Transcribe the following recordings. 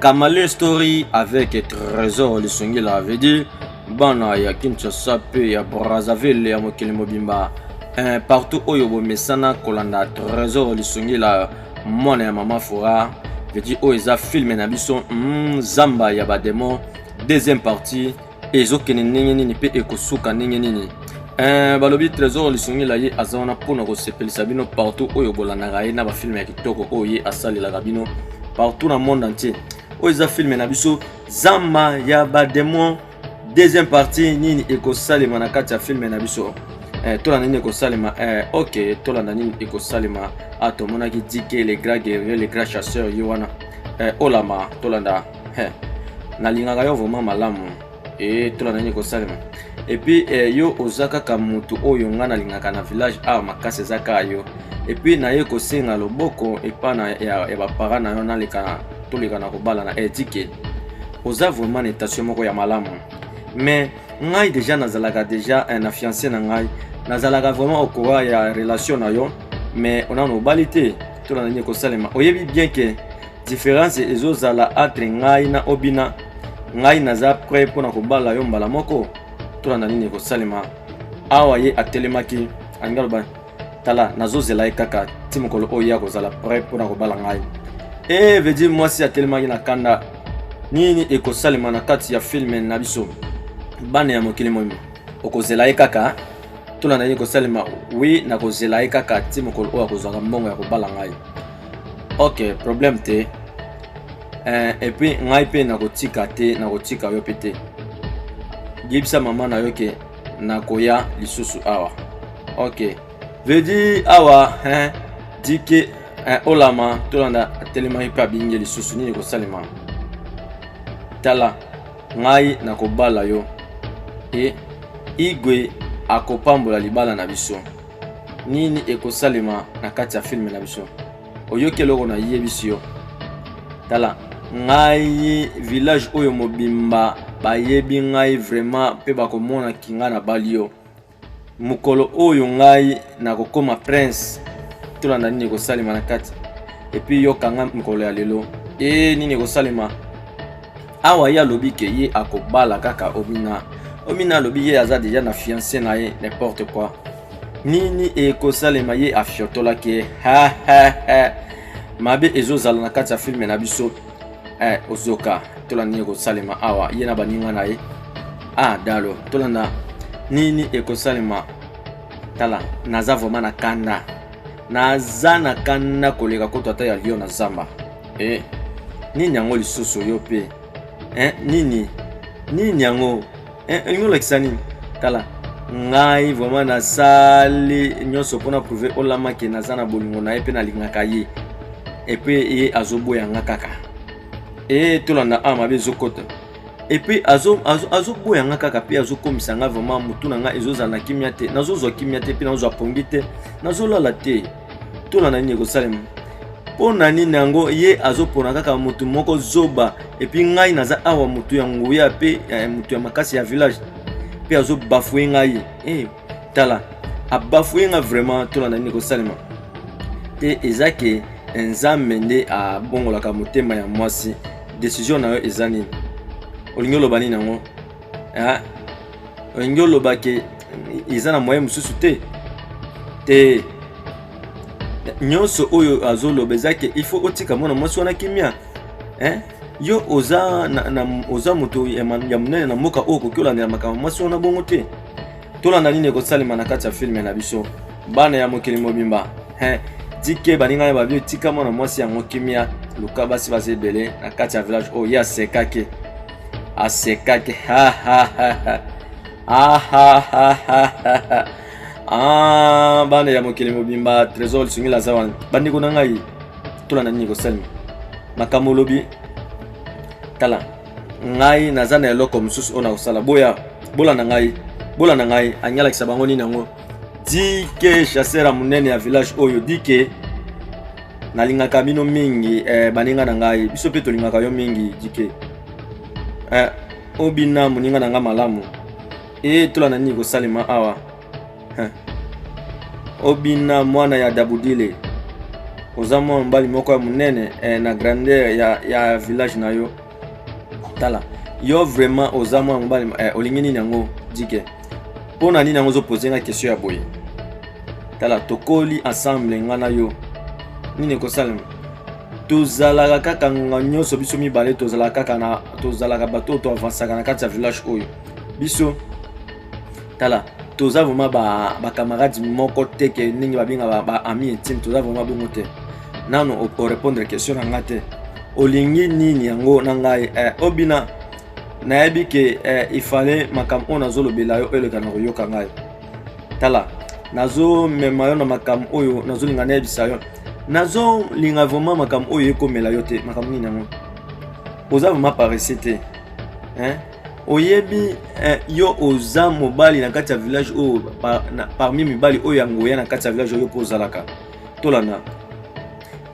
Kamale story avec Trésor Lisungila veut dire bana ya Kinshasa mpe ya Brazzaville ya mokili mobimba eh, partout oyo bomesana kolanda Trésor Lisungila mwana ya mama Fora veut dire oyo eza filme na biso mm, zamba ya bademon deuxième partie ezokende ndenge nini mpe ekosuka ndenge nini Eh, balobi trésor lisungila ye aza wana mpo na kosepelisa bino partout oyo bolandaka ye na bafilme ya kitoko oyo ye asalelaka bino partout na monde entier oyo eza filme na biso zamba ya bademon deuxième partie nini ekosalema na kati ya filme na biso eh, tolanda nini ekosalema eh, ok tolanda nini ekosalema a ah, tomonaki dike le grand guerrier le grand chasseur ye wana eh, olama tolanda He, nalingaka yo vraiment malamu e tola na nini kosalema epuis eh, yo oza kaka motu oyo ngai nalingaka na village awa makasi eza kaka yo epuis naye kosenga loboko epa na ya, ya bapara na yo naleka toleka na kobala na etike eh, oza vraiment na etation moko ya malamu mais ngai deja nazalaka deja eh, na fiance na ngai nazalaka vraiment okowa ya relation na yo mais onano obali te tola na nini kosalema oyebi bien ke Difference ezo zala entre ngai na Obina, ngai naza prêt mpo na kobala yo mbala moko, tolanda nini ekosalema. Awa ye atelemaki, alingi aloba tala, nazozela ye kaka ti mokolo oyo ye akozala prêt mpo na kobala ngai. E veut dire mwasi atelemaki na kanda. Nini ekosalema na kati ya filme na biso? Bana ya mokili moyima, okozela ye kaka tolanda nini ekosalema. Oui, nakozela ye kaka ti mokolo oyo akozwaka mbongo ya kobala ngai. ok problème te eh, et puis ngai mpe nakotika te nakotika yo mpe te yebisa mama na yo ke nakoya lisusu awa ok vedi awa hein, dike hein, olama tolanda atelemaki mpe abingi lisusu nini ekosalema tala ngai nakobala yo e igwe akopambola libala na biso nini ekosalema na kati ya filme na biso oyoki eloko nayebisi yo tala ngai village oyo mobimba bayebi ngai vraiment mpe bakomona kinga na bali yo mokolo oyo ngai nakokoma prince tolanda nini ekosalema na kati epuis yoka ngai mokolo ya lelo e nini ekosalema awa ye alobi ke ye akobala kaka omina omina alobi ye aza deja na fiance na ye n'importe quoi nini ekosalema ye afiotolaki ye mabe ezozala na kati ya filme na biso eh, ozoka tola nini ekosalema awa ye na baninga na ye ah dalo tolanda nini ekosalema tala naza vraimen na kanda naza na kanda koleka kutu ata ya lio na zamba Eh, nini yango lisusu yo pe eh, nini nini yango eh, olingi olakisa nini tala ngai vraiment nasali nyonso mpo na prouve olama ke naza na bolingo na ye mpe nalingaka ye epe ye azoboya nga kaka e tolanda a mabe ezokota epe azoboya nga kaka mpe azokomisa nga vraiment motu na nga ezozala na kimia te nazozwa kimia te mpe nazozwa pongi te nazolala te tuna na nini ekosalema mpo na nini yango ye azopona kaka motu moko zoba epuis ngai naza awa motu ya nguya mpe eh, motu ya makasi ya village mpe azobafue ngai hey, eh, tala abafue ngai vraiment tuna na nini ekosalema te eza ke eh, nzambe nde abongolaka motema ya mwasi desizio na yo eza nini olingi oloba nini yango olingi oloba ke eza na moyen mosusu te te nyonso oyo azoloba eza ke il faut otika mwana mwasi wana kimia eh? yo oza, na, na, oza moto ya monene na mboka oyo okoki olandela makambo mwasi wana bongo te tolanda nini ekosalema na kati ya filme na biso bana ya mokili mobimba eh? tike baninga ya babio etika mwana mwasi yango kimia luka basi baza ebele na kati ya village oyo ye asekaki asekaki ah, bana ya mokili mobimba trésor lisungi laza wana bandeko na ngai tola na nini kosalema makambo olobi tala ngai naza na eloko mosusu oyo nakosala boya bolanda ngai bolanda ngai anyalakisa bango nini yango dike chasseur ya monene ya village oyo dike nalingaka bino mingi eh, baninga na ngai biso mpe tolingaka yo mingi dike eh, obina moninga na ngai malamu etola na nini kosalema awa eh. obina mwana ya dabudile oza mwana mobali moko ya monene eh, na grandeur ya, ya village na yo tala yo vraiment oza mwana mobali eh, olingi nini yango dike mpo na nini yango ozopose nga question ya boye tala tokoli ensemble nga na yo nini ekosalema tozalaka kaka ngonga nyonso biso mibale tozalaka kaka na tozalaka bato oyo toavansaka na kati ya village oyo biso tala toza vraiment bacamarade ba moko te ke ndenge babenga baami intime toza vraiment bongo te nano orépondre question na nga te olingi nini yango na ngai eh, obina nayebi ke eh, ifale makambo oyo nazolobela yo eleka na koyoka ngai tala nazomema yo na makambo oyo nazolinga nayebisa yo nazolinga vraiment makambo oyo ekomela yo te makambo nini yango oza vraiment parese te eh? oyebi eh, yo oza mobali na kati ya village oyo par, parmi mibali oyo ya ngoya na kati ya village oyo mpo ozalaka tolanda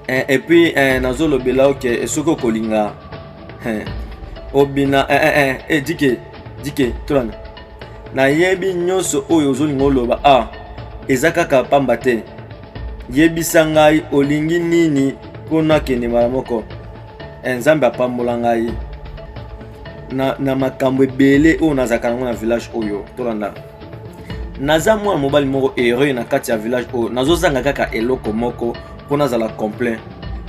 eh, et puis eh, nazolobela yo ke soki okolinga eh, obina eh, eh, eh, eh, dike dike tolanda nayebi nyonso oyo ozolinga oloba a ah, eza kaka pamba te yebisa ngai olingi nini mpo nakende mbala moko eh, nzambe apambola ngai na, na makambo ebele oyo nazalaka nango na village oyo tolanda naza mwana mobali moko heureux na kati ya village oyo nazozanga kaka eloko moko mpo nazala complet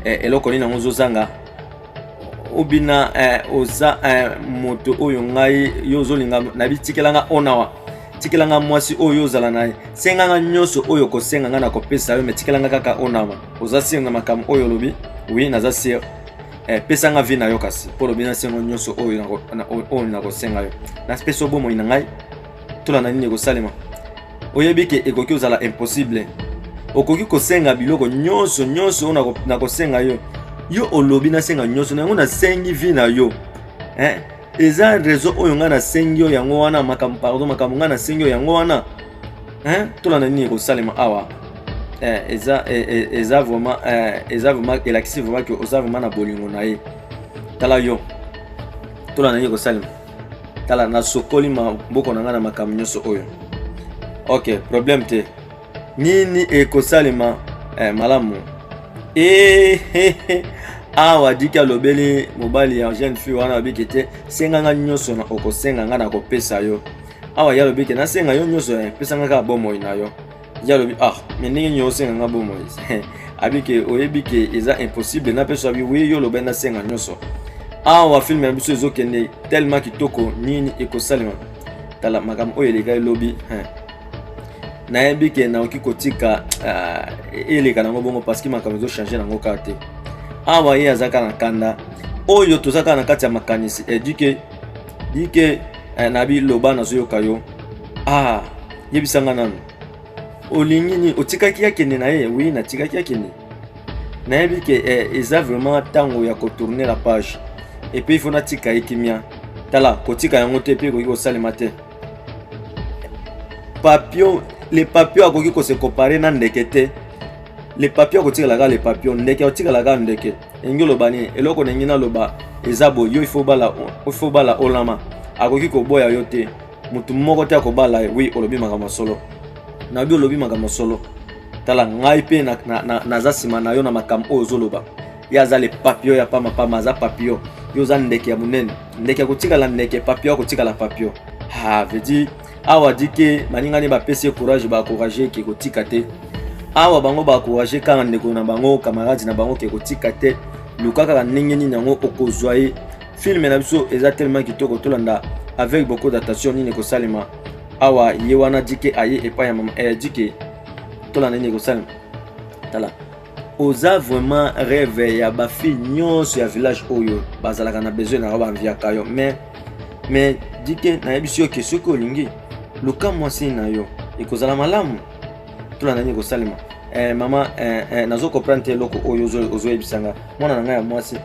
eh, eloko nini yango ozozanga obina eh, oza eh, moto oyo ngai yo ozolinga nayebi tikela nga onawa tikela nga mwasi oyo ozala na ye senga nga nyonso oyo okosenga nga nakopesa yo me tikela nga kaka onawa oza sire na makambo oyo olobi wi naza sire eh, pesa nga vi na yo kasi mpo olobi nasengo nyonso oyo nakosenga yo napesa yo bomoi na ngai tolanda nini ekosalema oyebi ke ekoki ozala impossible okoki kosenga biloko nyonso nyonso oyo nakosenga yo yo olobi nasenga nyonso na yango nasengi vi na yo eh? eza rezo oyo ngai nasengi yo yango wana makambo pardon makambo ngai nasengi yo yango wana eh? tolanda nini ekosalema awa eh, eza, eh, eh, eza vraiment eh, eza vraiment elakisi vraiment ke oza vraiment na bolingo na ye tala yo tolanda nini ekosalema tala nasokoli maboko na ngai na makambo nyonso oyo ok problème te nini ekosalema eh, malamu eh, eh, eh. awa diki alobeli mobali ya jeune fille wana abiki te senga ngai nyonso na okosenga ngai nakopesa yo awa ye alobiki nasenga yo nyonso eh, pesa ngai kaka bomoi na yo ye alobi ah me ndenge nini osenga nga bomoi abi ke oyebi ke eza impossible napesa bi wi yo olobaki nasenga nyonso awa filme na biso ezokende tellement kitoko nini ekosalema tala makambo oyo eleka elobi nayebi ke nakoki kotika ah, eleka nango bongo parceke makambo ezochange nango kaka te awa ye azaka na kanda oyo toza kaka na kati ya makanisi edike eh, dike eh, nabi loba nazoyoka yo ah Yebisa nga nanu. Olingi ni otikaki akende na ye? Oui, natikaki akende. Nayebi ke eh, eza vraiment tango ya ko tourner la page. Et puis il faut natika ye kimia. Tala, kotika yango te pe ekoki kosalema te. Papillon, le papillon akoki ko se comparer na ndeke te. Le papillon akotikala kaka le papillon, ndeke akotikala kaka ndeke. Elingi oloba nini? Eloko na ngi naloba eza boye, yo il faut bala, il faut bala olama. akoki koboya yo te motu moko te akobala ye wi olobi makambo ya solo nayobi olobi makambo ya solo tala ngai mpe naza na, na, na, na nsima na yo na makambo oyo ozoloba ye aza le papio ya pamapama aza papio yo oza ndeke ya monene ndeke akotikala ndeke papio akotikala papio ha vedi awa dike baninga nde bapesi ye courage bacourage ke kotika te awa bango bacourage kaka ndeko na bango camarade na bango ke kotika te luka kaka ndenge nini yango okozwa ye filme na biso eza tellement kitoko tolanda avec beaucoup d'attention nini ekosalema awa ye wana dike aye epai ya mama eh, dike tolanda nini ekosalema tala oza vraiment rêve ya bafille nyonso ya village oyo bazalaka na besoin na yo banviaka yo mais mais dike nayebisi yo ke soki olingi luka mwasi na yo ekozala malamu tolanda nini ekosalema eh, mama eh, eh, nazo comprendre te eloko oyo ozoyebisa nga mwana na ngai ya mwasi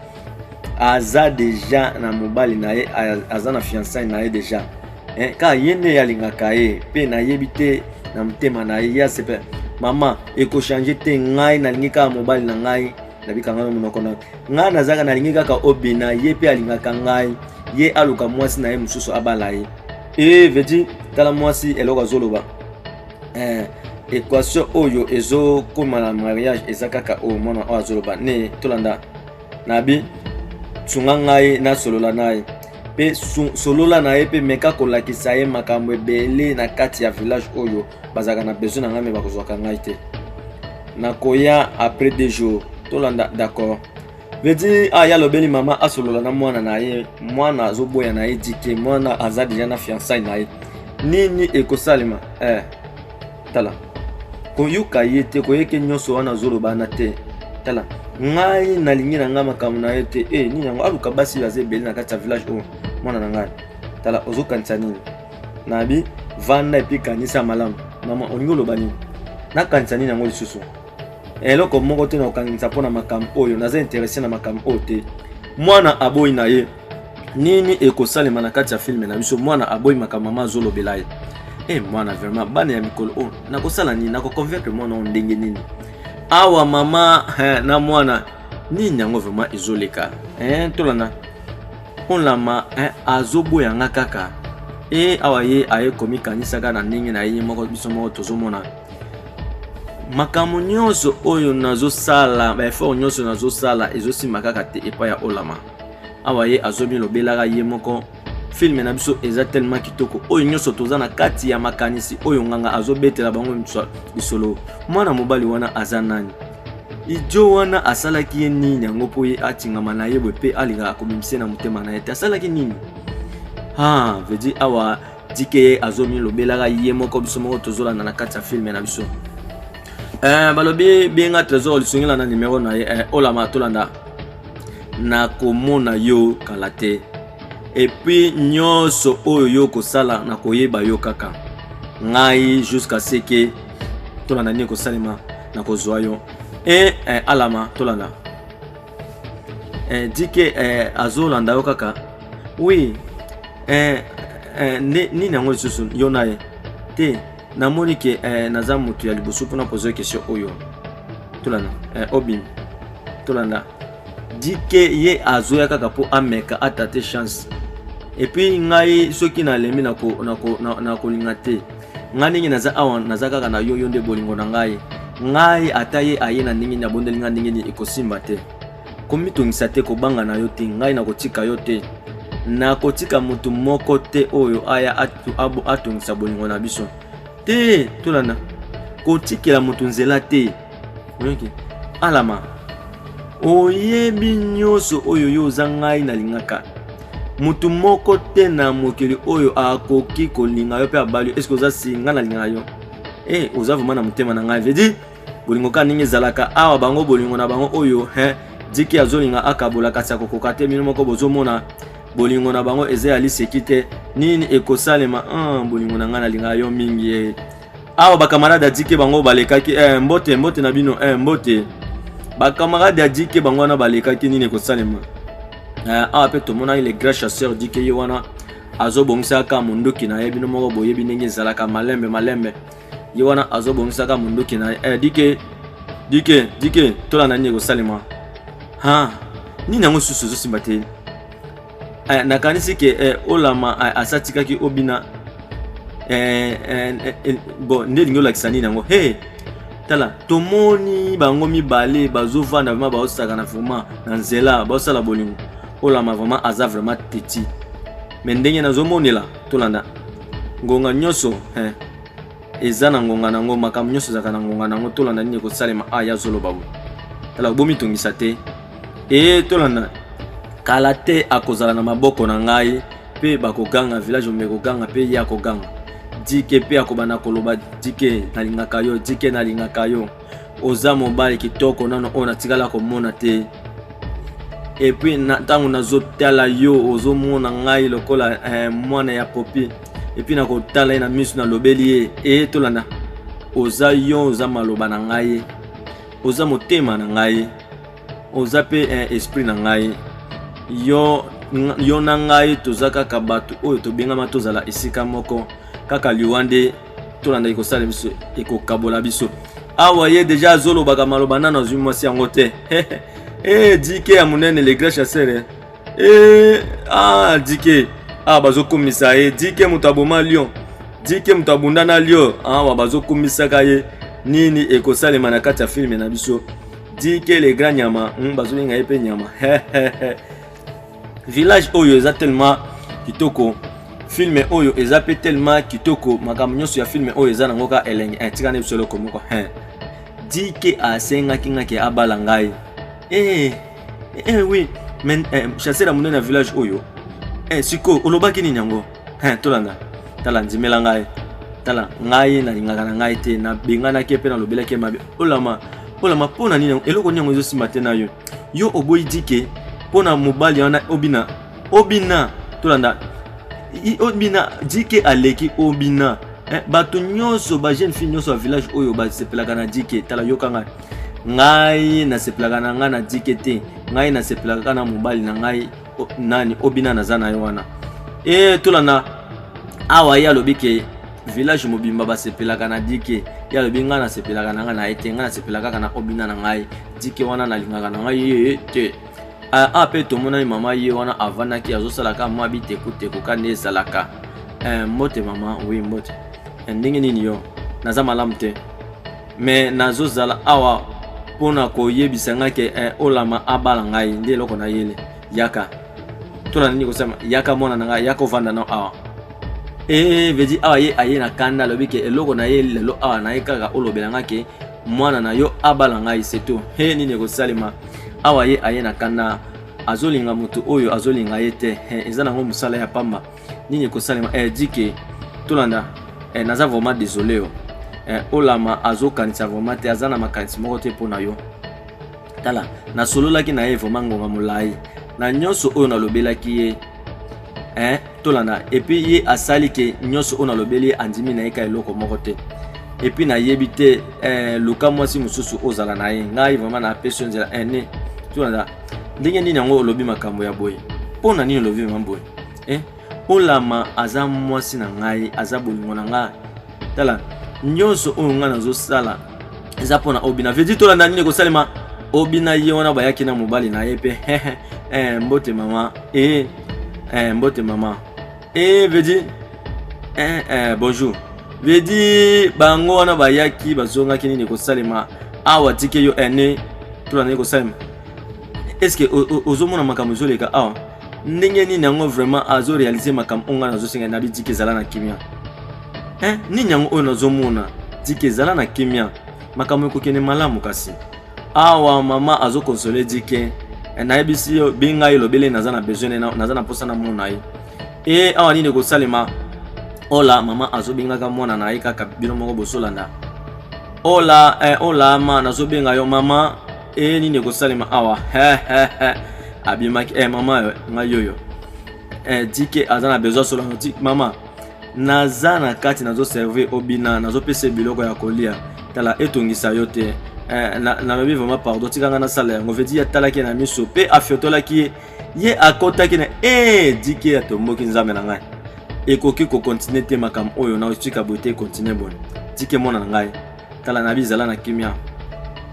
aza deja na mobali na ye aza na fiançai na ye deja eh, kaka ye nde alingaka ye mpe nayebi te na motema na ye ya sepe mama ekochange te ngai nalingi kaka mobali na ngai nabika ngai monoko na ngai nazalaka nalingi kaka obina ye mpe alingaka ngai ye aluka mwasi na ye mosusu abala ye e eh, vedi tala mwasi eloko azoloba eh, equation oyo ezokoma na mariage eza kaka oyo mwana oyo azoloba ne tolanda nabi sunga ngai nasolola na ye mpe solola na ye mpe meka kolakisa ye makambo ebele na kati ya village oyo bazalaka na besoin na ngai me bakozwaka ngai te nakoya après deux jours tolanda d'accord vedi aya alobeli mama asolola na mwana na ye mwana azoboya na ye dike mwana aza deja na fiansai na ye nini ekosalema eh, tala koyoka ye te koyeke nyonso wana azoloba wana te tala ngai nalingi na ngai makambo na ye te e nini yango aluka basi baza ebele na kati ya village oyo mwana na ngai tala ozokanisa nini nabi vanda epi kanisa malamu mama olingi oloba nini nakanisa nini yango lisusu eloko moko te na kokangisa mpo na makambo oyo naza interese na makambo oyo te mwana aboyi na ye nini ekosalema na kati ya filme na biso mwana aboyi makambo mama azolobela ye e eh, mwana vraiment bana ya mikolo oyo nakosala nini nakoconvaincre mwana oyo ndenge nini awa mama eh, na mwana nini yango vraiment ezoleka eh, tolanda olama eh, azoboya nga kaka e awa ye aye komikanisaka na ndenge na ye moko biso moko tozomona makambo nyonso oyo nazosala baeffort nyonso nazosala ezosima kaka te epai ya olama awa ye azomilobelaka ye moko filme na biso eza tellement kitoko oyo nyonso toza na kati ya makanisi oyo nganga azobetela bango lisolo mwana mobali wana aza nani idio wana asalaki ye nini yango mpo ye atingama na ye boye mpe alingaka komimisa na motema na ye te asalaki nini ha ah, vedi awa dike azo milobelaka ye moko biso moko tozolanda na kati ya filme na biso eh, balobi benga trésor lisungela na numero na ye eh, olama tolanda nakomona yo kala te epuis nyonso oyo yo okosala nakoyeba yo kaka ngai jusqu'à ce que tolanda nini ekosalema nakozwa yo e eh, alama tolanda eh, dike eh, azolanda yo kaka oui eh, eh, nde nini yango lisusu yo na ye te namoni ke eh, naza motu ya liboso mpona pozo question oyo tolanda eh, obimi tolanda dike ye azoya kaka mpo ameka atate chance epuis ngai soki nalembi nakolinga na ko, na, na, na te ngai ndenge naza awa naza kaka na yo yo nde bolingo na ngai ngai ata ye aye na ndenge nini abondeli ngai ndenge nini ekosimba te komitungisa te kobanga na yo te ngai nakotika yo te nakotika moto moko te oyo aya atungisa bolingo na biso te tolanda kotikela moto nzela te oyoki alama oyebi nyonso oyo yo oza ngai nalingaka motu moko te na mokili oyo akoki kolinga yo mpe abali yo eske oza si ngai nalingaka yo e eh, oza vraimen na motema na ngai vedi bolingo kaka ndenge ezalaka awa bango bolingo na bango oyo he diki azolinga akabola kasi akokoka te bino moko bozomona bolingo na bango eza ya liseki te nini ekosalema ah, bolingo na ngai nalingaka yo mingi ye eh. awa bakamarade ya dike bango balekaki eh, mbote mbote na bino eh, mbote bakamarade ya dike bango wana balekaki nini ekosalema eh, awa mpe tomonaki le grand chasseur dike ye wana azobongisaka monduki na ye bino moko boyebi ndenge ezalaka malembe malembe ye wana azobongisaka monduki na ye eh, dike dike dike tolanda nini ekosalema ha nini yango susu ezosimba te eh, nakanisi ke eh, olama eh, asi atikaki obina eh, eh, eh, eh bon nde elingi olakisa nini yango hey, tala tomoni bango mibale bazovanda vraimen baosakana vraimen na nzela baosala bolingo olama vraimen aza vraimen teti me ndenge nazomonela tolanda ngonga nyonso eh, eza na ngonga na yango makambo nyonso ezalaka na ngonga na yango tolanda nini ekosalema a ya zoloba bo tala bomitungisa te e tolanda kala te akozala na maboko na ngai mpe bakoganga village ombe koganga mpe ye akoganga dike mpe akobanda koloba dike nalingaka yo dike nalingaka yo oza mobali kitoko nano oyo natikala komona te epuis ntango nazotala yo ozomona ngai lokola eh, mwana ya popi epuis nakotala ye na miso nalobeli ye eye tolanda oza yo oza maloba na ngai oza motema na ngai oza mpe eh, esprit na ngai yo, yo na ngai toza kaka bato oyo tobengama tozala esika moko kaka liwa nde tolandaki kosala biso ekokabola biso awa ye deja azolobaka maloba nano azwi mwasi yango te e dike ya monene le grand chasseur e eh, a ah, dike awa ah, bazokumisa ye dike moto aboma lion dike moto abunda na lion awa ah, bazokumisaka ye nini ekosalema na kati ya filme na biso dike le grand nyama hmm, bazobenga ye mpe nyama village oyo eza tellement kitoko filme oyo eza mpe tellement kitoko makambo nyonso ya filme oyo eza nango kaka elengi eh, tika nde biso eloko moko eh. dike asengaki nga ke abala ngai eh, eh, oui mais eh, chasseur ya monene ya village oyo eh, sikoyo olobaki nini yango He, tolanda tala ndimela ngai tala ngai nalingaka na ngai te nabenganaki mpe nalobelaki ye mabe olama olama mpo na nini eloko nini yango ezosimba te na yo yo oboyi dike mpo na mobali wana obina obina tolanda obina dike aleki obina eh, bato nyonso bajeune fille nyonso ya village oyo basepelaka na dike tala yoka ngai ngai nasepelaka na ngai na dike te ngai nasepelaka na mobali na ngai O, nani obina naza na ye wana e tolanda awa ye alobi ke village mobimba basepelaka na dike ye alobi ngai nasepelaka na ngai na ye te ngai nasepela kaka na obina na ngai dike wana nalingaka na ngai ye te ah, ah, mpe tomonani mama ye wana avandaki azosalaka mwa bitekuteko kani ezalaka eh, mbote mama wi mbote eh, ndenge nini yo naza malamu te mais nazozala awa mpo na koyebisa ngai ke eh, olama abala ngai nde eloko na yele yaka tona nini kosema yaka mwana na ngai yaka ovanda na awa ee eh, vedi awa ye aye na kanda alobi ke eloko na ye lelo awa na ye kaka olobela ngai ke mwana na yo abala ngai setu he nini ekosalema awa ye aye na kanda azolinga moto oyo azolinga ye te eza nango mosala ya pamba nini ekosalema eh, dike tolanda eh, naza vraiment désolé yo eh, olama azokanisa vraiment te aza na makanisi moko te mpo na yo tala nasololaki na ye vraiment ngonga molai na nyonso oyo nalobelaki ye eh, tolanda epuis ye asali ke nyonso oyo nalobeli ye andimi na ye ka eloko moko te epuis nayebi te eh, luka mwasi mosusu ozala na ye ngai vraiment napesi yo nzela eh, ne tolanda ndenge nini yango olobi makambo ya boye mpo na nini olobi mama boye eh? olama aza mwasi na ngai aza bolingo na ngai tala nyonso oyo ngai nazosala eza mpo na obina vedi tolanda nini ekosalema obina ye wana bayaki na mobali na ye mpe eh, mbote mama e eh, mbote mama Eh, veut dire eh, eh, bonjour veut dire bango wana bayaki bazongaki nini ekosalema awa tike yo ene tolanda nini ekosalema estce ozomona makambo ezoleka awa ndenge nini yango vraiment azo réalise makambo oyo ngai nazosenga nabi tike ezala na kimia eh, nini yango oyo nazomona tike ezala na kimia makambo ekokende malamu kasi awa mama azo console dike eh, nayebisi yo benga ye lobele naza na besoin naza na mposa namona ye e awa nini ekosalema ola mama azobengaka mwana na ye kaka bino moko bosolanda ola eh, ola ma nazobenga yo mama e nini ekosalema awa abimaki eh, mama eh, ngai yoyo eh, dike aza na besoin solano ti mama naza na kati nazo servir obina nazo pesa biloko ya kolia tala etongisa yo te eh, nalobi vraiment pardon tika ngai nasala yango vedi ye atalaki ye na miso mpe afiotolaki ye ye akotaki na e eh, dike atomboki nzambe na ngai ekoki kokontinue te makambo oyo naotika boye te ekontinue bone dike mwana na ngai tala nabi zala na kimia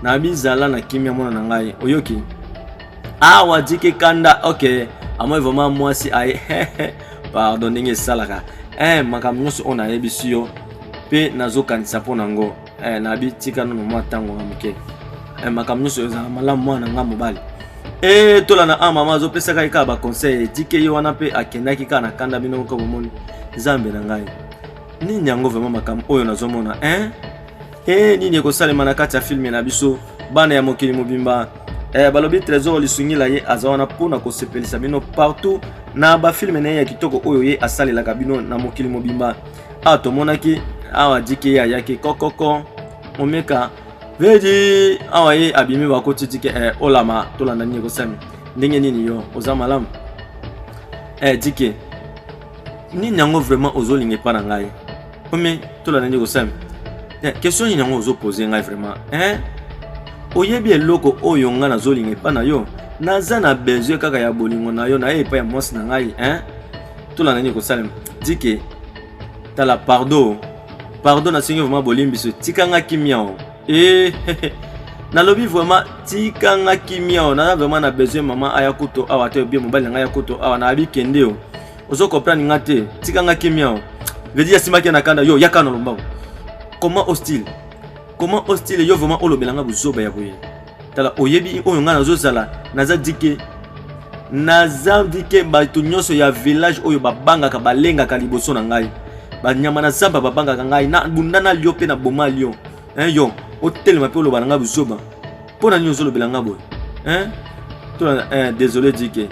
nabi zala na kimia mwana na ngai oyoki awa ah, jike kanda ok amoi vraiment mwasi aye pardon ndenge esalaka eh, makambo nyonso oyo nayebisi yo mpe nazokanisa mpo na yango eh, nabi tika nono mwa ntango na moke eh, makambo nyonso ezala malamu mwana na ngai mobali e tola na a mama azopesaka ye kaka baconseil etike ye wana mpe akendaki kaka na kanda bino moko bomoni nzambe na ngai nini yango vraiment makambo oyo nazomona hein e nini ekosalema na kati ya filme na biso bana ya mokili mobimba eh, balobi trésor lisungila ye aza wana mpo na kosepelisa bino partout na bafilme na ye ya kitoko oyo ye asalelaka bino na mokili mobimba awa tomonaki awa dike ye ayaki kokoko momeka vedi awa ye abimi bakoti dike eh, olama tolanda nini ekosami ndenge nini yo oza malamu eh, dike nini yango vraiment ozolinga epa na ngai ome tolanda nde kosami eh, question nini yango ozopose ngai vraiment eh? oyebi eloko oyo ngai nazolinga epa na yo naza na besoin kaka ya bolingo na yo na ye epai ya mwasi na ngai eh? tolanda nini kosalema dike tala pardo pardo nasengi vraimen bolimbisi tika ngai kimia o Eh, nalobi vraiment tika nga kimia o naza vraiment na besoin mama aya kutu awa te obie mobali na ngai ya kutu awa nayebi kende o ozo comprendre nga te tika nga kimia o vedi asimaki na kanda yo yaka na lombango comment hostile comment hostile yo vraiment olobela nga buzoba ya boye tala oyebi oyo ngai nazozala naza dike naza dike bato nyonso ya village oyo babangaka balengaka liboso na ngai banyama na zamba babangaka ngai na bunda na lio mpe na boma lio hein, yo otelema mpe oloba na ngai buzoba mpo na nini ozolobela ngai boye hein? tolanda hein, désolé dike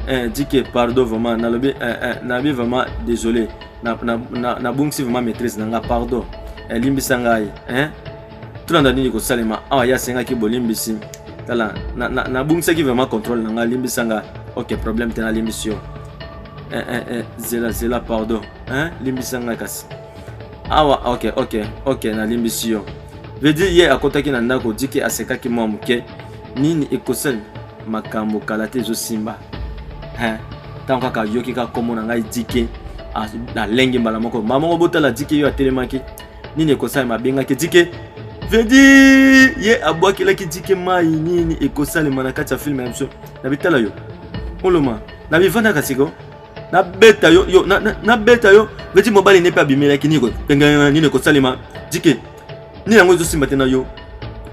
hein, dike pardon vraiment nalobi hein, hein, nalobi vraiment désolé nabungisi na, na, na vraiment maîtrise na ngai pardon elimbisa ngai hein? tolanda nini kosalema awa ye asengaki bolimbisi tala nabungisaki vraiment contrôle na ngai limbisa nga ok problème te nalimbisi yo eh, eh, eh, zela zela pardon eh, limbisa ngai kasi awa ok ok ok nalimbisi yo veut dire ye akotaki na ndako dike asekaki mwa moke nini ekosala makambo kala te ezosimba eh, ntango kaka ayoki kaka nkombo na ngai dike alenge mbala moko mbala moko botala dike yo atelemaki nini ekosalema abengaki dike vedi ye abwakelaki dike mai nini ekosalema na kati ya filme ya biso na bitala yo oloma na bivandaka siko nabeta yo yo nabeta yo vedi mobali ne mpe abimelaki nini pengana nini ekosalema dike nini yango ezosimba te na yo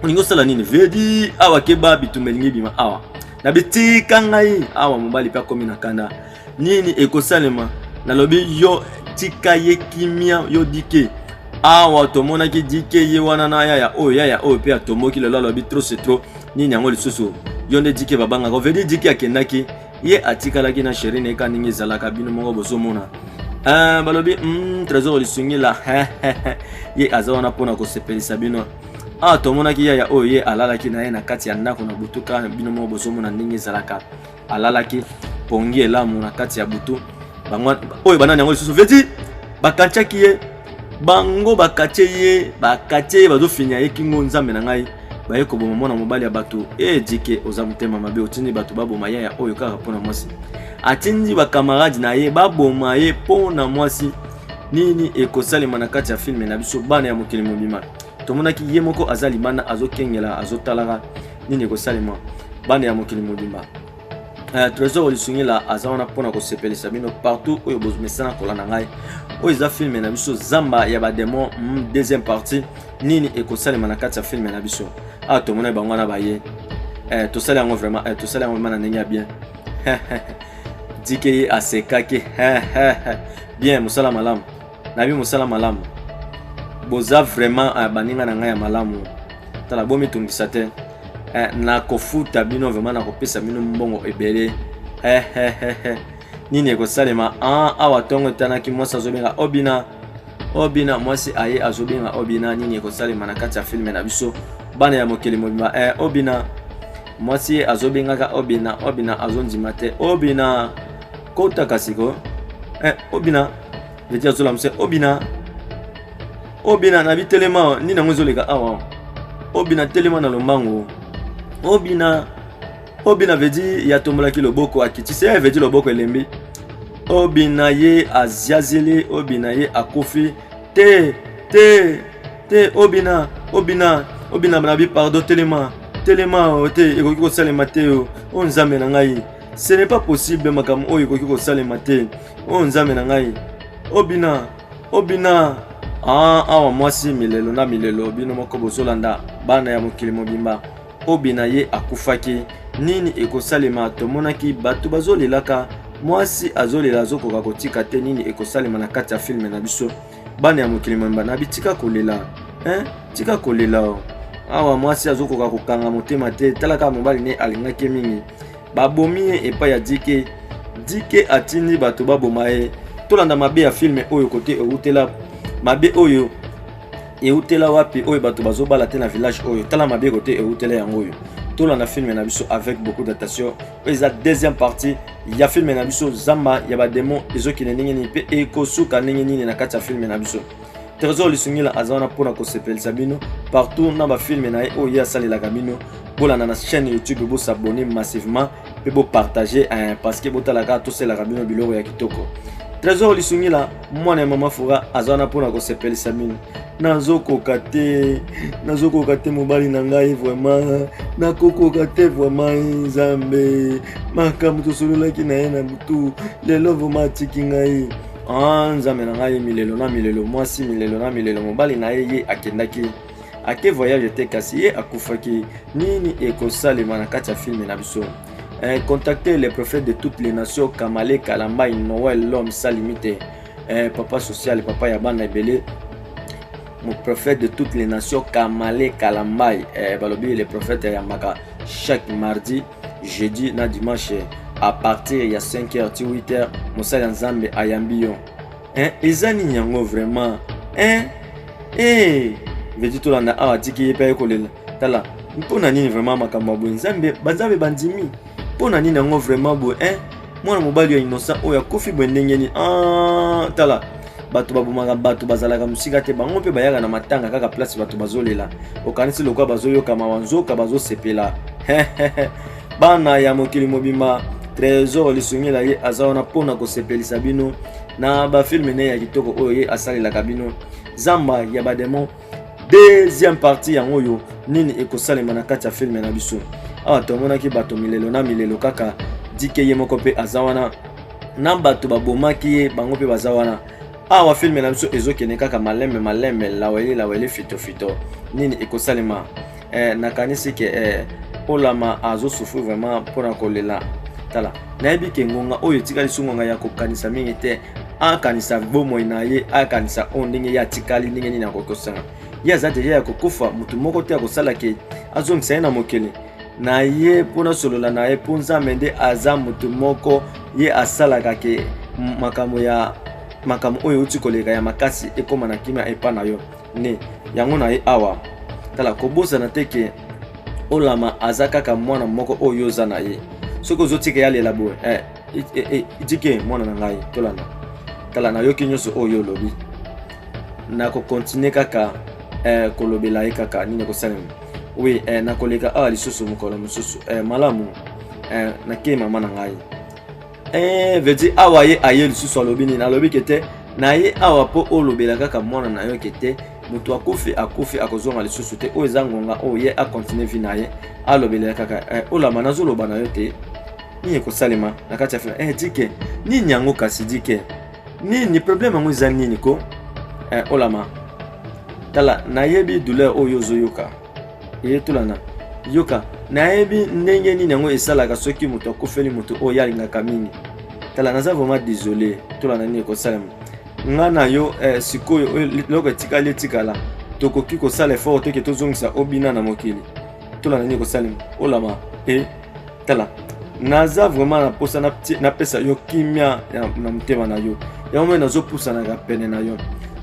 olingi osala nini vedi awa keba bitumba elingi ebima awa na bitika ngai awa mobali mpe akomi na kanda nini ekosalema nalobi yo tika ye kimia yo dike awa tomonaki dike ye wana na yaya oyo yaya oyo mpe atomboki lelo alobi trop c'est trop nini yango lisusu yo nde dike babangaka ovedi dike akendaki ye atikalaki na sheri na ye ka ndenge ezalaka bino moko bozomona uh, balobi mm, trésor lisungi la ye aza wana mpona kosepelisa bino awa ah, tomonaki yaya oyo ye alalaki na ye na kati ya ndako na butuka bino moko bozomona ndenge ezalaka alalaki pongi elamu na kati ya butu bango oyo banani yango lisusu veti bakatiaki ye bango bakatie ye bakatie ye bazofinya ye kingo nzambe na ngai baye koboma mwana mobali ya bato e jike oza motema mabe otindi bato baboma yaya oyo kaka mpo na mwasi atindi bakamarade na ye baboma ye mpo na mwasi nini ekosalema na kati ya filme na biso bana ya mokili mobima tomonaki ye moko aza libanda azokengela azotalaka nini ekosalema bande ya mokili mobimba uh, trésor lisungila aza wana mpona kosepelisa bino partout oyo bomesana kolanda ngai oyo eza filme na biso zamba ya bademon mm, deuxième partie nini ekosalema na kati ya filme na biso awa ah, tomonai bango wana baye eh, tosali yango vraiment eh, tosali yango vraiment na ndenge ya bien dike ye asekaki bien mosala malamu nayebi mosala malamu boza vraiment uh, baninga na ngai ya malamu tala bomitungisa te eh, nakofuta bino vraiment nakopesa bino mbongo ebele eh, eh, eh, eh. nini ekosalema ah, awa ntongo etanaki mwasi azobenga obina obina mwasi aye azobenga obina nini ekosalema na kati ya filme na biso bana ya mokili mobimba eh, obina mwasi ye azobengaka obina obina azondima te obina kota kasi ko eh, obina veti azola mose obina obina na bitelema nini yango ezoleka awa obina telema na lombango obina obina vedi ya tombolaki loboko akitisi ye eh, vedi loboko elembi obina ye aziazeli obina ye akufi te te te obina obina obina na bipardo telema telema o oh, te ekoki kosalema te o oh. o oh, nzambe na ngai ce n'est pas possible makambo oyo ekoki kosalema te oyo oh, nzambe na ngai obina oh, obina oh, ah, awa mwasi milelo na milelo bino moko bozolanda bana ya mokili mobimba obina ye akufaki nini ekosalema tomonaki bato bazolelaka mwasi azolela azokoka kotika te nini ekosalema na kati ya filme na biso bana ya mokili mobimba na bitika kolela eh? tika kolela o awa mwasi azokoka kokanga motema te tala kaka mobali ne alingaki ye mingi babomi ye epai ya dike dike atindi bato baboma ye tolanda mabe ya filme oyo kote eutela mabe oyo eutela wapi oyo bato bazobala te na village oyo tala mabe kote eutela yango oyo tolanda filme na biso avec beaucoup d'attention eza deuxième partie ya filme na biso zamba ya bademo ezokende ndenge nini mpe ekosuka ndenge nini na kati ya filme na biso trésor lisungila aza wana mpona kosepelisa bino partout na bafilme na ye oyo ye asalelaka bino bolanda na chaîne youtube bosabone massivement mpe bopartage eh, parce que botalaka tosalelaka bino biloko ya kitoko trésor lisungila mwana ya mama fora aza wana mpona kosepelisa mino nazokoka te nazokoka te mobali na ngai vraimen nakokoka te vraimen nzambe makambo tosololaki na ye na butu lelo vraimen atiki ngai ah, nzambe na ngai milelo na milelo mwasi milelo na milelo mobali na ye ye akendaki ake voyage te kasi ye akufaki nini ekosalema na kati ya filme na biso eh, contacter le prophète de toutes les nations kamale kalambai noel l'homme sa limite eh, papa social papa ya bana ebele mon prophète de toutes les nations kamale kalambai eh, balobi le prophète ayambaka chaque mardi jeudi na dimanche à partir ya 5h ti 8h mosali ya nzambe ayambi yo eh, eza nini yango vraiment eh, eh. veti tolanda awa atiki ye mpe aye kolela tala mpo na nini vraiment makambo ya boye nzambe banzambe bandimi mpo na nini yango vraiment boye eh, mwana mobali ya innocent oyo akofi boye ndenge nini ah, tala bato babomaka bato bazalaka mosika te bango mpe bayaka na matanga kaka place bato bazolela okanisi lokola bazoyoka mawa nzoka bazosepela bana ya mokili mobimba tresor lisungela ye aza wana mpo na kosepelisa bino na bafilme ne ya kitoko oyo ye asalelaka bino zamba ya bademon deuxième partie yango oyo nini ekosalema na kati ya filme na biso awa tomonaki bato milelo na milelo kaka dike ye moko mpe aza wana na bato babomaki ye bango mpe baza wana awa filme na biso ezokende kaka malembe malembe laweli laweli fitofito nini ekosalema eh, nakanisi ke eh, olama azosufri vraiment mpo na kolela tala nayebi ke ngonga oyo etikali so ngonga ya kokanisa mingi te akanisa bomoi na ye akanisa oyo ndenge ye atikali ndenge nini akoki kosanga ye aza deja ya kokufa motu moko te akosala ke azongisa ye na mokili na ye mpo nasolola na ye mpo nzambe nde aza motu moko ye asalaka ke makambo ya makambo oyo euti koleka ya makasi ekóma na kimia epai na yo ne yango na ye awa tala kobosana te ke olama aza kaka mwana moko oyo oza na ye soki ozotika ye alela boye eh, eh, eh, dike mwana na ngai tolanda tala nayoki nyonso oyo olobi nakokontinue kaka eh, kolobela ye kaka nini ekosalema wi eh, nakoleka awa lisusu mokolo mosusu eh, malamu eh, nakei mama na ngai Eh, veut dire awa ye aye lisusu alobi nini alobi ke te na ye awa mpo olobela kaka mwana na yo ke te moto akufi akufi akozonga lisusu te oyo eza ngonga oyo ye akontinue vi na ye alobelela kaka eh, olama nazoloba na yo te nini ekosalema na kati ya fila eh, dike nini yango kasi dike nini problème yango eza nini ko eh, olama tala nayebi douleur oyo ozoyoka eyetulana yoka nayebi ndenge nini yango esalaka soki moto akufeli moto oyo alingaka mingi tala naza vraiment désolé tolana nini ekosalema nga na yo eh, sikoyo eloko etikali etikala tokoki kosala effort te ke tozongisa obina na mokili tolana nini ekosalema olama e tala naza vraiment na mposa napesa yo kimia na motema na yo yango moi nazopusanaka pene na yo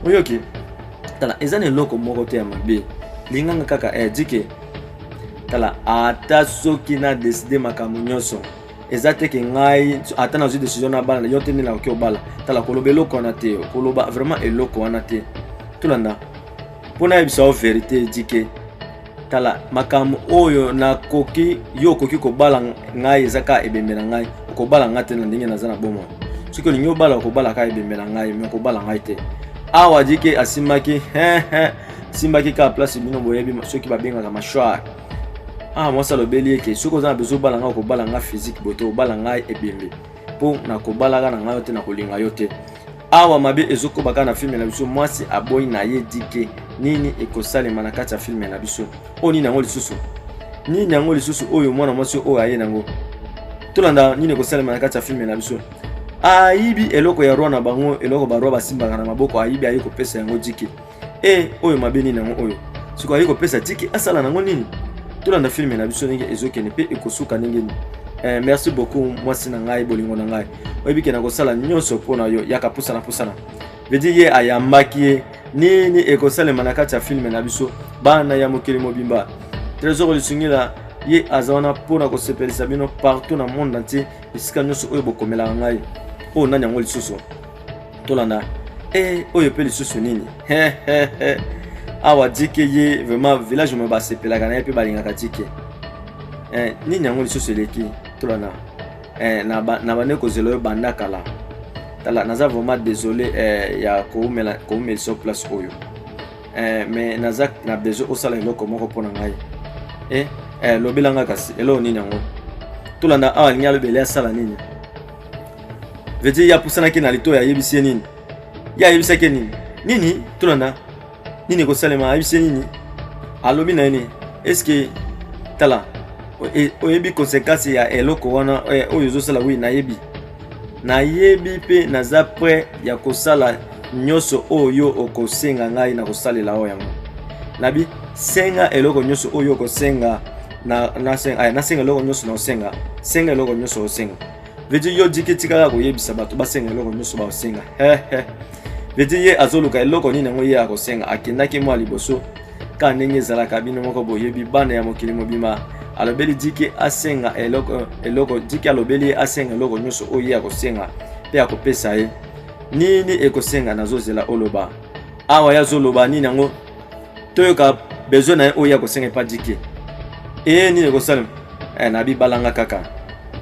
oyoki okay. tala eza na eloko moko te ya mabe linganga kaka eh, dike tala ata soki na deside makambo nyonso eza te ke ngai ata nazwi decision na bana yo te nde nakoki obala tala koloba eloko wana te koloba vraiment eloko wana te tolanda mpo nayebisa yo verité dike tala makambo oyo nakoki yo okoki kobala ngai eza kaka ebembe na ngai okobala ngai te na ndenge naza na bomoi soki olingi obala okobala kaka ebembe na ngai me okobala ngai te awa jike asimbaki asimbaki kaka place bino boyebi soki babengaka mashwar ah mwasi alobeli eke soki oza na bezo obala ngai okobala ngai physique boye te obala ngai ebembe mpo nakobalaka na ngai yo te nakolinga yo te awa mabe ezokoba kaka na filme na biso mwasi aboyi na ye dike nini ekosalema na kati ya filme na biso oyo nini yango lisusu nini yango lisusu oyo mwana mwasi oyo aye nango tolanda nini ekosalema na kati ya filme na biso ayibi eloko ya roi na bango eloko baroi basimbaka na maboko ayibi aye kopesa yango dike e oyo mabe nini yango oyo sikoyo aye kopesa tiki asala nango nini tolanda filme na biso ndenge ezokende mpe ekosuka ndenge nini eh, merci beaucoup mwasi na ngai bolingo na ngai oyebi ke nakosala nyonso mpo na yo yaka pusana pusana vedi ye ayambaki ye nini ekosalema na kati ya filme na biso bana ya mokili mobimba tresor lisungila ye aza wana mpo na kosepelisa bino partout na monde entier esika nyonso oyo bokomelaka ngai oyo nani yango lisusu tolanda eh, oyo mpe lisusu nini awa dike ye vraiment village oyo basepelaka na ye mpe balingaka dike eh, nini yango lisusu eleki tolanda eh, na bande kozela oyo banda kala tala naza vraiment désolé eh, ya koumela koumelisa place oyo eh, mais naza na besoin osala eloko moko mpo na ngai eh, eh, lobela ngai kasi eloko nini yango tolanda awa alingi alobela asala nini vedire ye apusanaki na litoyi ayebisi ye nini ye ayebisaki ye nini nini tunana nini ekosalema ayebisi ye nini alobi na ye nini eske tala e, oyebi konsekansi ya eloko wana eh, oyo ozosala wi nayebi nayebi mpe naza pre ya kosala nyonso oyo okosenga ngai na kosalela oyo yango nabi senga eloko nyonso oyo okosenga na na senga ay na senga loko nyoso na senga senga loko nyoso osenga veut yo diki tikala koyebisa bato basenga eloko nyonso baosenga veut dire ye azoluka eloko nini yango ye akosenga akendaki mwa liboso kaka ndenge ezalaka bino moko boyebi bana ya mokili mobima alobeli diki asenga eloko eloko diki alobeli ye asenga eloko nyonso oyo ye akosenga mpe akopesa ye nini ekosenga nazozela oloba awa ye azoloba nini yango toyoka besoin na ye oyo ya kosenga epa dike ee nini ekosalema eh, na bibalanga kaka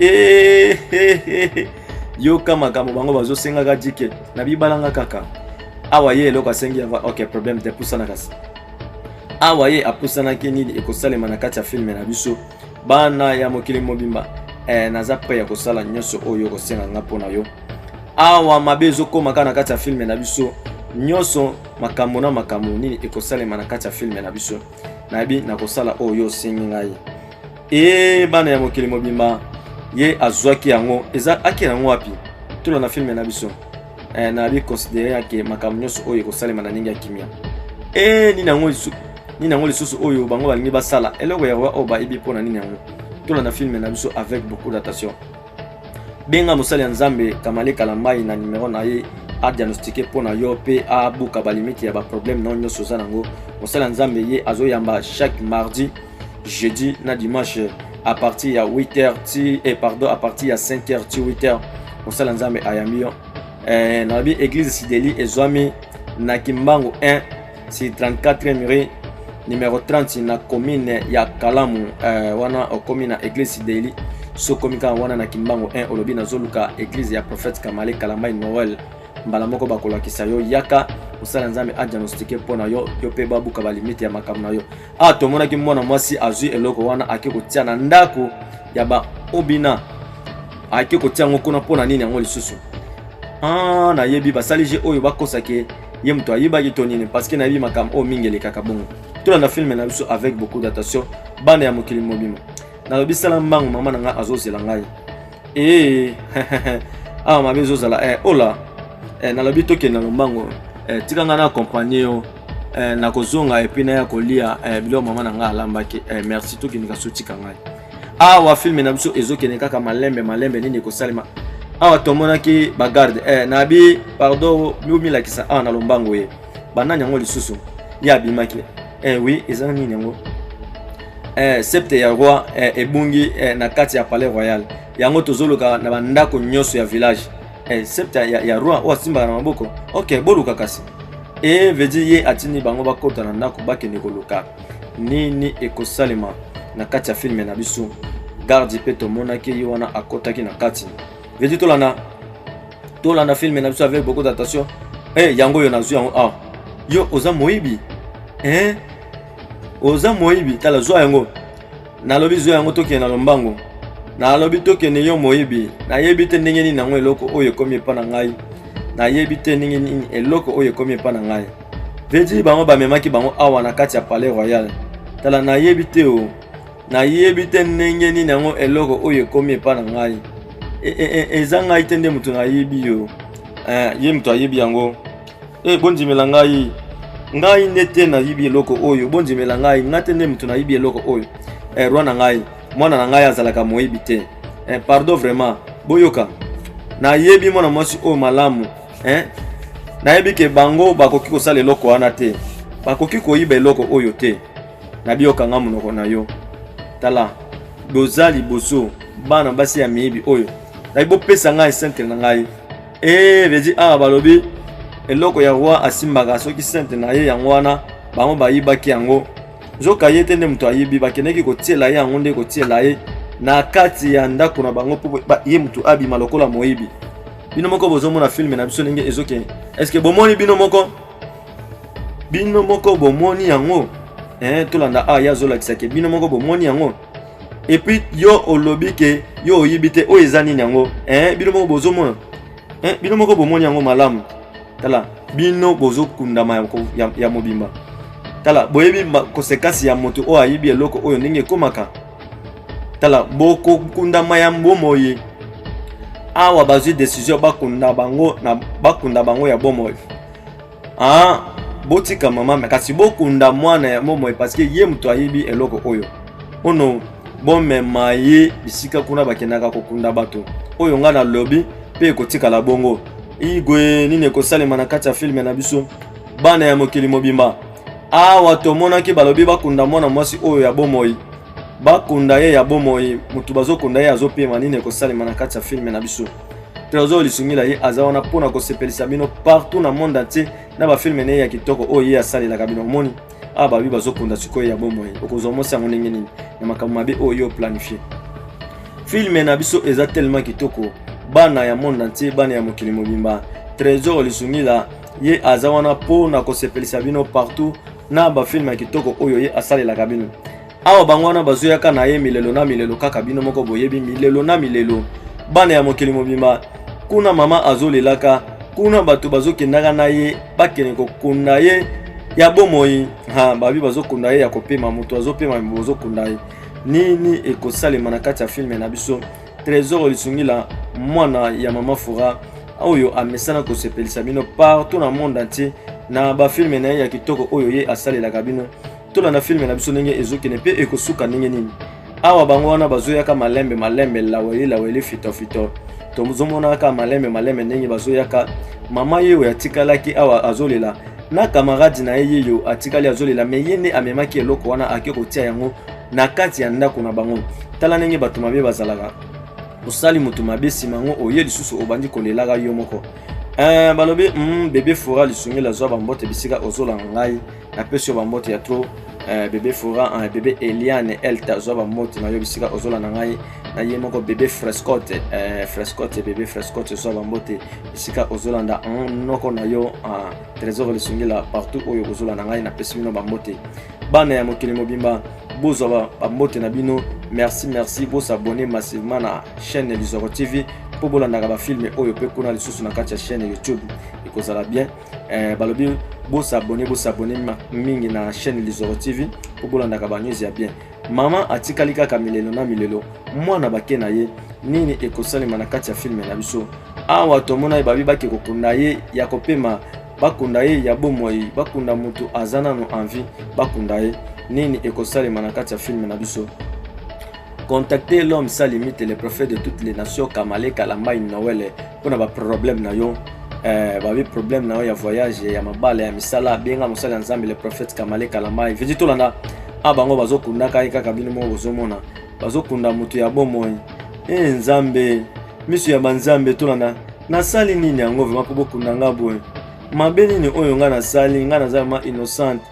ee eh, eh, eh, eh. yoka makambo bango bazosengaka dike na bibalanga kaka awa ye eloko asengi ava ok problème te pusana kasi awa ye apusanaki nini ekosalema na kati ya filme na biso bana ya mokili mobimba eh, naza pre ya kosala nyonso oyo okosenga nga mpo na yo awa mabe ezokoma kaka na kati ya filme na biso nyonso makambo na makambo nini ekosalema na kati ya filme na biso nayebi nakosala oyo yo osengi ngai e bana ya mokili mobimba ye azwaki yango eza ake yango wapi tula na filme na biso eh, nayebi considere yake makambo nyonso oyo ekosalema na ndenge ya kimia e nini yango lisusu nini yango lisusu oyo bango balingi basala eloko ya oyo bayebi mpo na nini yango tula na filme na biso avec beaucoup d'attention benga mosali ya nzambe kamale kalambai na nimero na ye adiagnostike mpo na yo mpe abuka balimite ya baproblème na yo nyonso oza nango mosali ya nzambe ye azoyamba chaque mardi jeudi na dimanche à partir ya 8h ti eh, pardon à partir ya 5h ti 8h mosala nzambe ayambi yo eh, nalobi église sideli ezwami na kimbangu 1 si 34 rue numero 30 na commune ya kalamu uh, wana okomi na eglise daily sokomi kaka wana na kimbangu 1 olobi nazoluka eglise ya prophète kamale kalambai noel mbala moko bakolakisa yo yaka osala nzambe adiagnostike mpo na yo yo mpe babuka balimite ya makambo na yo awa ah, tomonaki mwana mwasi azwi eloko wana ake kotia na ndako ya baobina ake kotia yango kuna mpo na nini yango lisusu ah, nayebi basali je oyo bakosake ye moto ayebaki to nini parceke nayebi makambo oyo mingi elekaka bongo tolanda filme na biso avec beaucoup d'attention bana ya mokili mobima nalobi sala mbangu mama na ngai azozela ngai ee awa mabe ezozala e eh, ola e eh, nalobi tokende na lombango e eh, tika ngai na accompagne yo e nakozonga epuis naya kolia e biloko mama na ngai alambaki e merci tokendeka sotika ngai awa filme na biso ezokende kaka malembe malembe nini ekosalema awa tomonaki bagarde eh, na bi pardon bomilakisa awa na lombango ye banani yango lisusu ye abimaki eh, oui eza nini yango eh, septe ya roi eh, ebungi eh, na kati ya palais royal yango tozoluka na bandako nyonso ya village eh, septe ya, ya roi oyo asimbaka na maboko ok boluka kasi e eh, vedi ye atindi bango bakota na ndako bakende koluka nini ekosalema na kati ya filme na biso gardi mpe tomonaki ye wana akotaki na kati vedi tolanda tolanda filme na biso avec beaucoup d'attention hey, eh, yango oyo nazwi yango awa ah. yo oza moyibi eh? oza moyibi tala zwa yango nalobi zwa yango tokende na lombango nalobi tokende yo moyibi nayebi te ndenge nini yango eloko oyo ekomi epa na ngai nayebi te ndenge nini eloko oyo ekomi epa na ngai Vedi bango bamemaki bango awa na kati ya palais royal. Tala nayebi te o. Nayebi te ndenge nini yango eloko oyo ekomi epa na ngai. E, e, e, eza ngai te nde moto nayebi yo. Eh, ye moto ayebi yango. E, bondimela ngai. Ngai nde te nayebi eloko oyo. Bondimela ngai. Ngai te nde moto nayebi eloko oyo. Eh, roi na ngai. Mwana na ngai azalaka moyebi te. Eh, pardon vraiment. Boyoka. Nayebi mwana mwasi oyo malamu. eh? nayebi ke bango bakoki kosala eloko wana te bakoki koyiba eloko oyo te nabiyokanga monoko na yo tala boza liboso bana basi ya miyibi oyo nayi bopesa ngai centre na ngai ee vedi awa balobi eloko ya roi asimbaka soki centre na ye yango wana bango bayibaki yango nzoka ye te nde moto ayibi bakendeki kotiela ye yango nde kotiela ye na kati ya ndako na bango mpo ye moto abima lokola moyibi bino moko bozomona filme na biso ndenge ezokende eske bomoni bino moko bino moko bomoni yango eh, tolanda a ah, ye azolakisa ke bino moko bomoni yango epuis yo olobi ke yo oyibi te oyo eza nini yango eh, bino moko bozomona eh, bino moko bomoni yango malamu tala bino bozokundama ya, ya, ya mobimba tala boyebi kosekasi ya moto oyo ayibi eloko oyo ndenge ekomaka tala bokokunda mayambo moye awa bazwi desizio bakunda bango na bakunda bango ya bomoi ah, botika mama me kasi bokunda mwana ya bomoi parceke ye moto ayebi eloko oyo ono bomema ye bisika kuna bakendaka kokunda bato oyo ngai nalobi mpe ekotikala bongo igwe nini ekosalema na kati ya filme na biso bana ya mokili mobimba awa tomonaki balobi bakunda mwana mwasi oyo ya bomoi bakunda ye ya bomoi motu bazokunda ye azopema nini ekosalema na kati ya filme na biso trésor lisungila ye aza wana mpo na kosepelisa bino partout na monde entier na bafilme na ye ya kitoko oyo ye asalelaka bino omoni awa babi bazokunda sikoyo ya bomoi okozwa mwasi yango ndenge nini na makambo mabe oyo yo planifie filme na biso eza tellement kitoko bana ya monde entier bana ya mokili mobimba trésor lisungila ye aza wana mpo na kosepelisa bino partout na bafilme ya kitoko oyo ye asalelaka bino awa bango wana bazoyaka na ye milelo na milelo kaka bino moko boyebi milelo na milelo bana ya mokili mobimba kuna mama azolelaka kuna bato bazokendaka na ye bakende kokunda ye ya bomoi ha babi bazokunda ye ya kopema moto azopema bozokunda ye nini ekosalema na kati ya filme na biso Tresor Lisungila, mwana ya Mama Fura, oyo amesana kosepelisa bino partout na monde entier na bafilme na ye ya kitoko oyo ye asalelaka bino. Tolanda filme na biso ndenge ezokende mpe ekosuka ndenge nini. Awa bango wana bazoyaka malembe malembe, laweli laweli, fito fito, tozomonaka malembe malembe ndenge bazoyaka. Mama ye oyo atikalaki awa azolela na kamaradi na ye yeyo atikali azolela, me ye nde amemaki eloko wana ake kotia yango na kati ya ndako na bango. Tala ndenge bato mabe bazalaka. Osali moto mabe nsima yango oye lisusu obandi kolelaka yo moko. Eh, balobi mm, bebe fora lisungeli azwa bambote bisika ozolanga ngai napesi yo bambote ya tro eh, bebe fora eh, bebe eliane elta azwa bambote na yo bisika ozolanda ngai na ye moko bebe frescote eh, frescote bebe frescote azwa bambote bisika ozolanda mm, noko na yo ah, trésor lisungela partout oyo ozolanda ngai napesi bino bambote bana ya mokili mobimba bozwa bambote na bino merci merci bosabone massivement na chaîne lizoro tv mpo bolandaka bafilme oyo mpe kuna lisusu na kati ya chaîne youtube ekozala bien eh, balobi bosabone bosabone mingi na chaîne lizoro tv mpo bolandaka banews ya bien mama atikali kaka milelo na milelo mwana bake na ye nini ekosalema na kati ya filme na biso awa tomona ye babi bake kokunda ye ya kopema bakunda ye ya bomoi bakunda moto aza nano envie bakunda ye nini ekosalema na kati ya filme na biso contacte l'homme sa limite le prophète de toutes les nations kamale kalambai noele mpo na baproblème na yo eh, babi problème na yo ya voyage ya mabala ya misala benga mosali ya nzambe le prophète kamale kalambai vidi tolanda a bango bazokundaka ye kaka bino moko bozomona bazokunda moto ya bomoi e nzambe miso ya banzambe tolanda nasali nini yango vrema mpo bokunda nga boye mabe nini oyo nga nasali nga naza vrema innocente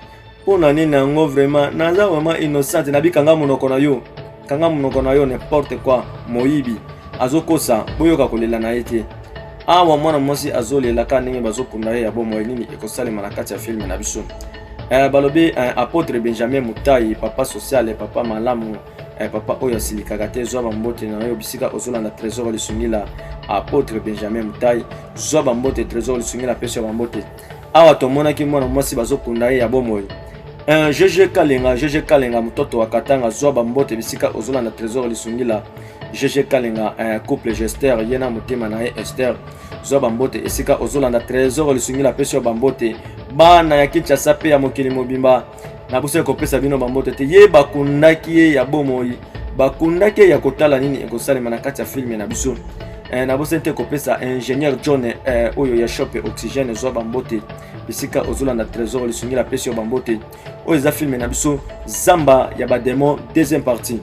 mpo na nini yango vrema naza vrema innocente nabika nga monoko na yo kanga monoko na yo n'importe quoi moyibi azokosa boyoka kolela na ye te awa mwana mwasi azolela kaka ndenge bazokunda ye ya bomoi nini ekosalema na kati ya filme na biso eh, balobi eh, apotre benjamin mutai papa sociale papa malamu Eh, papa oyo asilikaka te zwa bambote na yo bisika ozolanda trésor lisungi la apôtre benjamin mutai zwa bambote trésor lisungi la pesi ya bambote awa tomonaki mwana mwasi bazokunda ye ya bomoi eh, jeje kalenga jeje kalenga mototo wa katanga zwa bambote bisika ozolanda trésor lisungi la jeje kalenga eh, couple gester ye na motema na ye ester zwa bambote esika ozolanda trésor lisungi la pesi ya bambote bana ya kinshasa mpe ya mokili mobimba nakosaki kopesa bino bambote te ye bakundaki ye ya bomoi bakundaki ye ya kotala nini ekosalema na kati ya filme na biso eh, nabosani te kopesa ingénieur john eh, oyo ya shop oxygène ezwa bambote bisika ozolanda trésor lisungila apesi yo bambote oyo eza filme na biso zamba ya bademon deuxième partie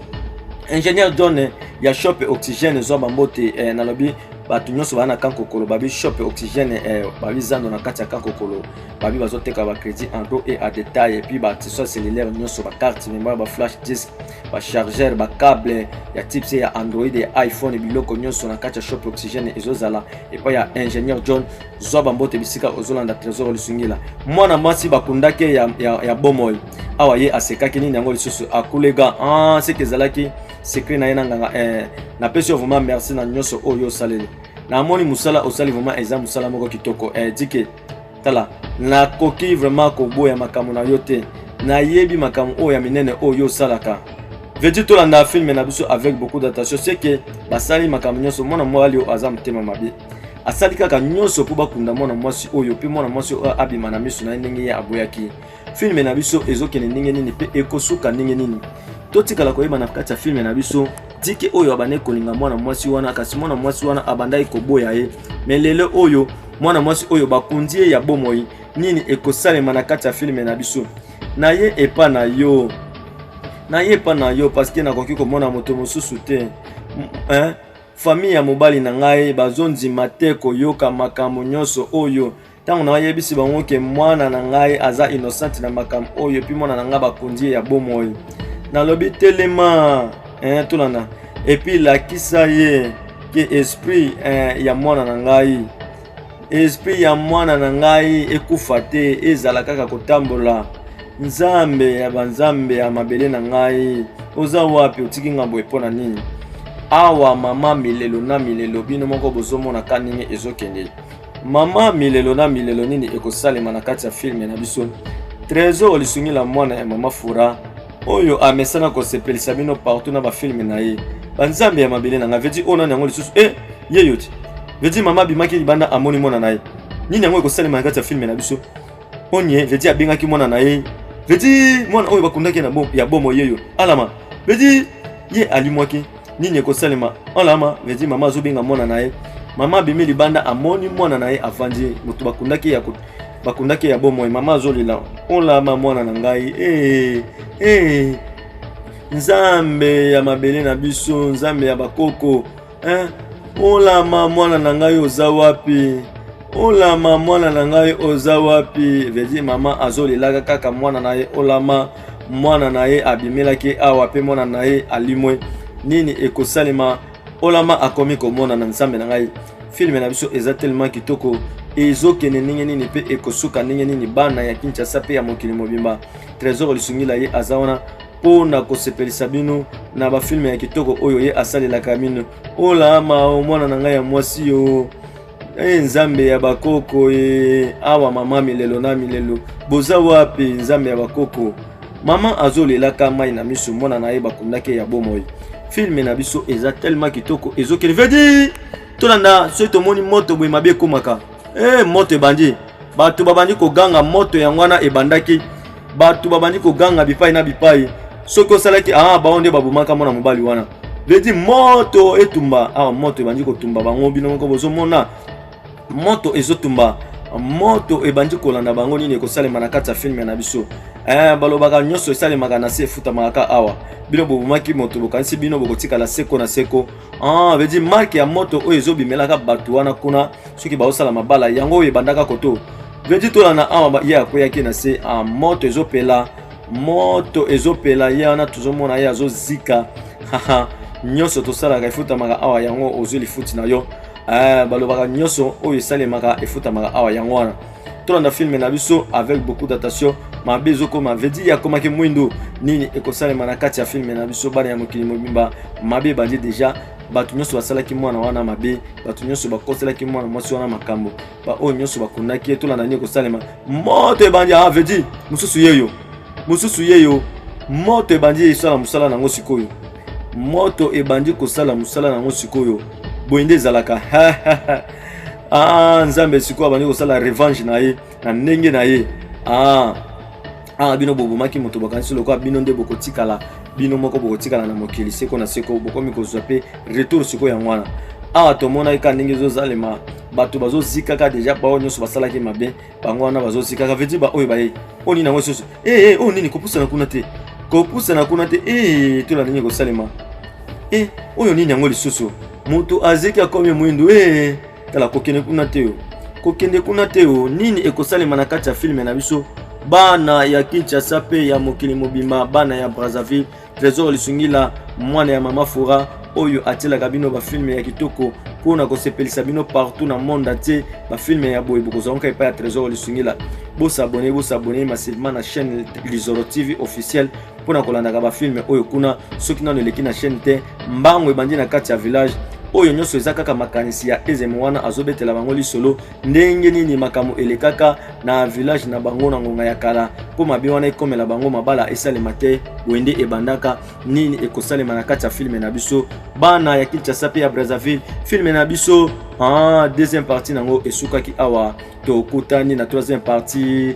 ingénieur john eh, ya shop oxygène ezwa bambote eh, nalobi bato nyonso baa na kankokolo babi shop oxygène eh, babi zando na kati ya kankokolo babi bazoteka bacrédit en dos et à détail epuis batisoi cellulaire nyonso bacarte mémoire baflash disk bachargeur bacable ya type se ya android ya iphone biloko nyonso na kati ya shop oxygène ezozala epai ya ingénieur john zwa bambote bisika ozolanda trésor lisungila mwana mwasi bakundaki ya, ya, ya bomoi awa ye asekaki nini yango lisusu akulega ah, seke ezalaki secret na ye na nganga eh, napesi yo vraiment merci na nyonso oyo osaleli na moni musala osali vraiment eza musala moko kitoko eh, dike tala nakoki vraiment koboya makambo na yo te nayebi makambo oyo ya minene oyo osalaka vedi tolanda filme na biso avec beaucoup d'attention ce que basali makambo nyonso mwana mobali oyo aza motema mabe asali kaka nyonso mpo bakunda mwana mwasi oyo mpe mwana mwasi oyo abima na miso na ye ndenge ye aboyaki filme na biso ezokende ndenge nini mpe ekosuka ndenge nini totikala koyeba na kati ya filme na biso tike oyo abandaki kolinga mwana mwasi wana kasi mwana mwasi wana abandaki koboya ye me lelo oyo mwana mwasi oyo bakundi ye ya bomoi nini ekosalema na kati ya filme na biso na ye epa na yo na ye epa na yo parceke nakoki komona moto mosusu te famille ya mobali na ngai bazondima te koyoka makambo nyonso oyo ntango nayebisi bango ke mwana na ngai aza innocente na makambo oyo epuis mwana na ngai bakonzi ye ya bomoi nalobi telema eh, tolanda epuis lakisa ye ke esprit eh, ya mwana na ngai esprit ya mwana na ngai ekufa te ezala kaka kotambola nzambe ya banzambe ya mabele na ngai oza wapi otiki ngai boye mpo na nini awa mama milelo na milelo bino moko bozomonaka ndenge ezokende Mama milelo na milelo nini ekosalema na kati ya filme na biso? Tresor lisungi la mwana ya mama Fura oyo amesana kosepelisa bino partout na bafilme na ye banzambe ya mabele na ngai vedi oyo nani yango lisusu e ye yo ti vedi mama abimaki libanda amoni mwana na ye nini yango ekosalema na kati ya filme na biso Onye vedi abengaki mwana na ye vedi mwana oyo bakundaki na bom, ya bomo yeyo alama vedi ye alimwaki nini ekosalema alama vedi mama azobenga mwana na ye mama abimi libanda amoni mwana na ye avandi moto bakundaki ya bakundaki ya bomoi mama azolela olama mwana na ngai ee eh, ee eh, nzambe ya mabele na biso nzambe ya bakoko eh, olama mwana na ngai oza wapi olama mwana na ngai oza wapi vedi mama azolelaka kaka mwana na ye olama mwana na ye abimelaki awa mpe mwana na ye alimwe nini ekosalema olama akomi komona na nzambe na ngai filme na biso eza tellement kitoko ezokende ndenge nini mpe ekosuka ndenge nini bana ya kinshasa mpe ya mokili mobimba trésor lisungila ye aza wana mpo na kosepelisa bino na bafilme ya kitoko oyo ye asalelaka bino olama o mwana na ngai ya mwasi yo e nzambe ya bakoko e awa mama milelo na milelo boza wapi nzambe ya bakoko mama azolelaka mai na miso mwana na ye bakundaki ya bomoi filme na biso eza tellement kitoko ezokende vedi tolanda soki tomoni moto boye mabe ekomaka Hey, eh, moto ebandi bato babandi koganga moto yango wana ebandaki bato babandi koganga bipai na bipai soki osalaki ah, bango nde babomaka mwana mobali wana vedi moto etumba ah, moto ebandi kotumba bango bino moko bozomona moto ezotumba moto ebandi kolanda bango nini ekosalema na kati ya filme na biso eh, balobaka nyonso esalemaka na se efutamaka kaka awa bino bobomaki moto bokanisi bino bokotikala seko na seko Ah, veut dire marque ya moto oyo ezobimelaka bato wana kuna soki baosala mabala yango oyo ebandaka koto veut dire tolana awa ye akweyaki na se ah, moto ezopela moto ezopela ye wana tozomona ye azozika nyonso tosalaka efutamaka awa yango ozwi lifuti na yo eh, balobaka nyonso oyo esalemaka efutamaka awa yango wana tolanda filme na biso avec beaucoup d'attention mabe ezokoma vedi akomaki mwindo nini ekosalema na kati ya filme na biso bana ya mokili mobimba mabe ebandi deja bato nyonso basalaki mwana wana mabe bato nyonso bakoselaki mwana mwasi wana makambo baoyo nyonso bakundaki ye tolanda nini ekosalema moto ebandi a ah, vedi mosusu yeyo mosusu yeyo moto ebandi esala mosala nango sikoyo moto ebandi kosala mosala nango sikoyo boye nde ezalaka Ah, Nzambe sikoyo abandi kosala revenge na ye na ndenge na ye. Ah, ah bino bobomaki moto bakanisi lokola bino nde bokotikala bino moko bokotikala na mokili seko na seko bokomi kozwa mpe retour sikoyo yango wana awa tomonaki kaka ndenge ezozalema bato bazozikaka deja bao nyonso basalaki mabe bango wana bazotika ça veut dire baoyo baye oyo nini yango lisusu ee eh, oyo nini kopusana kuna te kopusana kuna te ee eh, tola nini ekosalema e eh, oyo nini yango lisusu moto azeki akomi mwindu ee tala kokende kuna te yo kokende kuna te yo nini ekosalema na kati ya filme na biso bana ya kinshasa mpe ya mokili mobimba bana ya brazzaville Tresor Lisungila, mwana ya mama Fora oyo atielaka bino bafilme ya kitoko mpo na kosepelisa bino partout na monde entier. Bafilme ya boye bokozwa nka epai ya Tresor Lisungila. Bosabone, bosabone massivement na chaîne Lizoro TV officielle mpo na kolandaka bafilme oyo kuna. Soki nano eleki na chaîne te, mbango ebandi na kati ya village oyo nyonso eza kaka makanisi ya ezeme wana azobetela bango lisolo Ndenge nini makambo elekaka na village na bango na ngonga ya kala mpo mabe wana ekomela bango mabala esalema te boye nde ebandaka nini ekosalema na kati ya filme na biso bana ya kinshasa mpe ya brazzaville filme na biso ah, deuxième partie na yango esukaki awa tokutani na troisième partie